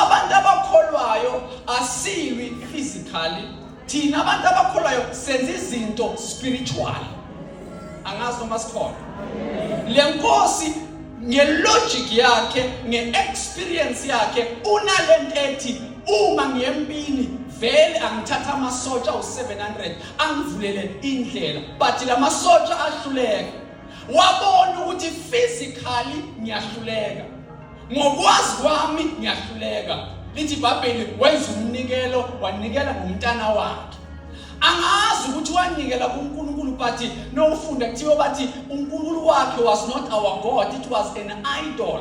abantu abakholwayo asiwi physically thina abantu abakholwayo senza izinto spiritual angazi noma sikhona le nkosi ngelogic yakhe ngeexperience yakhe unalento ethi uma ngiyempini vele angithatha amasotsha u700 angivulele indlela but lamasotsha ahluleka wabona ukuthi physically ngiyahluleka ngokwazi kwami ngiyahluleka lithi ibhayibheli wenza umnikelo wanikela ngomntana wakhe angazi ukuthi wanikela kunkulunkulu but nowufunda kuthiwa bathi unkulunkulu wakhe was not our god it was an idol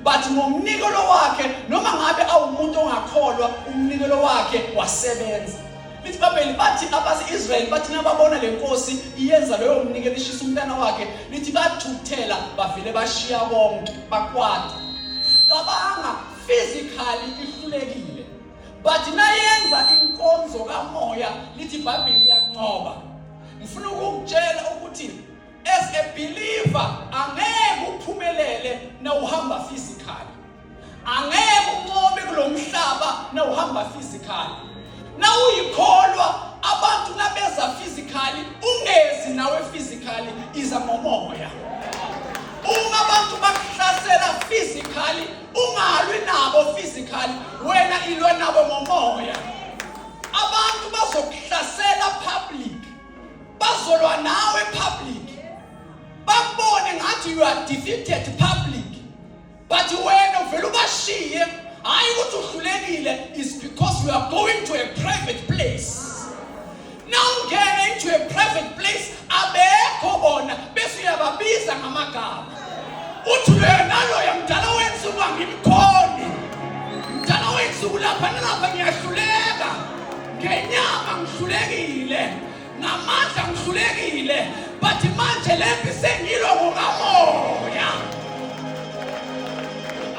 but ngomnikelo wakhe noma ngabe awumuntu ongakholwa umnikelo wakhe wasebenza Lithi iBhayibheli bathi abase-Israyeli bathi nababona le nkosi iyenza loyo mnikelo ishisa umntana wakhe lithi bathukuthela bavele bashiya konke bakwata cabanga physically ihlulekile but nayenza inkonzo kamoya lithi iBhayibheli iyanqoba ngifuna ukukutshela ukuthi as a believer angeke uphumelele na uhamba physically angeke uncome kulo mhlaba na uhamba physically na uyikholwa abantu nabeza physically ungezi nawe physically iza ngomoya uma abantu bakuhlasela physically ungalwi nabo physically wena ilwa nabo ngomoya abantu bazokuhlasela public bazolwa nawe public bakubone ngathi you are defeated public but wena uvele ubashiye hayi ukuthi uhlulekile is because we are going to a private place nawungena into a private place abekho bona bese uyababiza ngamagama uthi loyo naloyo mdala wenza uba ngimkhoni mdala wenza ukulapha nalapha ngiyahluleka ngenyama ngihlulekile ngamandla ngihlulekile but manje le mpi sengilwa ngokamoya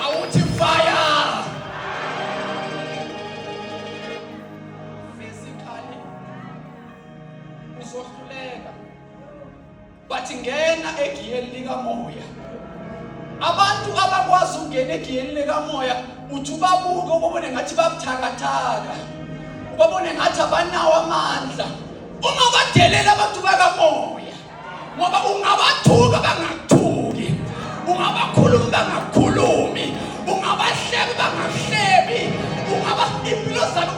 awuthi fire bathi ngena egiyeni likamoya abantu abakwazi ukungena egiyeni likamoya uthi ubabuke ubabone ngathi babuthakathaka ubabone ngathi abanawo amandla ungabadelela abantu bakamoya ngoba ungabathuka bangathuki ungabakhulumi bangakhulumi ungabahlebi bangahlebi ungaba impilo zabo